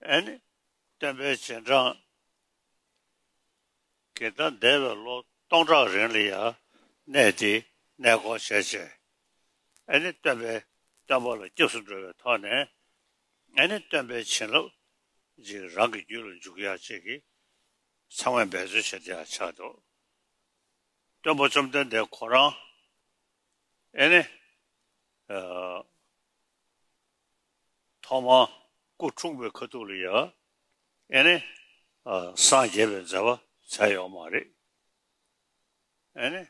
ཨན། བསྟན་པའི་རྗེས་འབྲང་གི་ཟླ་འདས་པའི་ལོ་སྟོང་ཕྲག་རིང་ལ་ཡང་གནས་འདིས་གནས་སྐོར་བྱས་རྗེས། ཨན། སྟོན་པས་སྟོན་པ་ལ་སྐྱབས་སུ་འགྲོ་བའི་ཐོག་ནས། ཨན། སྟོན་པའི་བྱིན་རླབས་ཀྱིས་རང་གི་རྒྱུད་ལ་འཇུག་ཡ་བཅས་ཀྱི་ཚང་མས་འབད་རྩོལ་བྱེད་དེ་ཡང་ཆགས་འདུག་སྟོན་པ་བཅོམ་ལྡན་འདས་ཁོ་རང། ཨན། ཐོག་མར་སྐུ་འཁྲུངས་པའི་ཁ་ཐུག་ལ་ཡ་ཨེ་ནས་སངས་རྒྱས་པའི་མཛད་པ་བྱས་ཡོད་མ་རེད་ཨེ་ནས།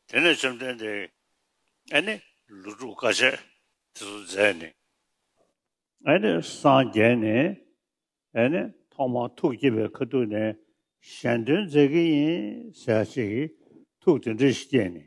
དེ་ནས་བཅོམ་ལྡན་འདས་ཨེ་ནས་ལུས་འཁྲུགས་དཀའ་སྤྱད་དེ་ཚོ་མཛད་ནས་ཨེ་ནས་སངས་རྒྱས་ནས་ཨེ་ནས་ཐོག་མར་ཐུགས་བསྐྱེད་པའི་ཁ་ཐུག་ནས་གཞན་དོན་མཛད་ཀྱི་ཡིན་ཟེར་ཅིག་ཐུགས་དེ་འདྲ་ཞིག་བསྐྱེད་ནས་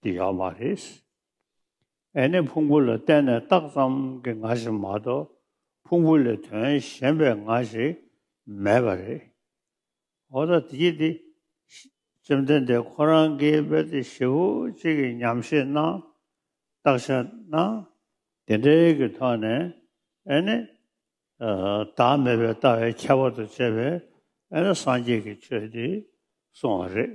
འདི་ཡོད་མ་རེད། ཨེ་ནི་ཕུང་པོ་ལ་བརྟེན་ནས་རྟགས་ཙམ་གྱི་ང་ཞིག་མ་གཏོགས་ཕུང་པོ་ལས་དོན་གཞན་པའི་ང་ཞིག་མེད་པ་རེད། འོ་ད་དེ་དེ་བཅོམ་ལྡན་འདས་ཁོ་རང་གིས་དཔེ་དེ་ཞེ་བོ་གཅིག་གིས་ཉམས་བཞེས་གནང་བརྟག་བྱ་ན། དེ་འདྲའི་གི་ཐོག་ནས་ཨེ་ནི་བདག་མེད་པའི་ལྟ་བའི་ཁྱད་པར་དུ་བྱས་པས་ཨེ་ནི་སངས་རྒྱས་ཀྱི་ཆོས་འདི་གསུང་བ་རེད།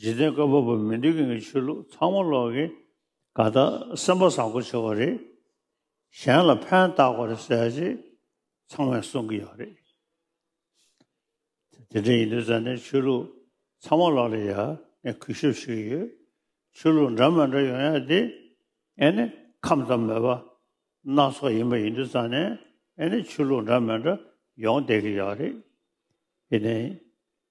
འཇིག་རྟེན་བཀའ་བབས་པ་མི་འདི་གིང་གི་ཆོས་ལུགས་ཚང་མ་ལོག་གི་ག་ད་སེམས་པ་བཟང་པོ་བྱེད་པ་རེད་གཞན་ལ་ཕན་བཏགས་པ་རེད་ཟེར་རྗེས་ཚང་མས་གསུང་གི་ཡོད་རེད་དེ་འདྲ་ཡིན་དུས་ཟ་ནས་ཆོས་ལུགས་ཚང་མ་ལོག་ལེ་ཡ་ནས་གུས་ཞབས་ཞུ་གི་ཡོད་ཆོས་ལུགས་འདྲ་མ་འདྲ་ཡོང་ཡ་དེ་ཨེ་ནི་ཁམས་ཙམ་མེད་པ་སྣ་ཚོགས་ཡིན་པ་ཡིན་དུས་ཟ་ནས་ཨེ་ནི་ཆོས་ལུགས་འདྲ་མ་འདྲ་ཡོང་བསྡད་གི་ཡོད་རེད་དེ་ནས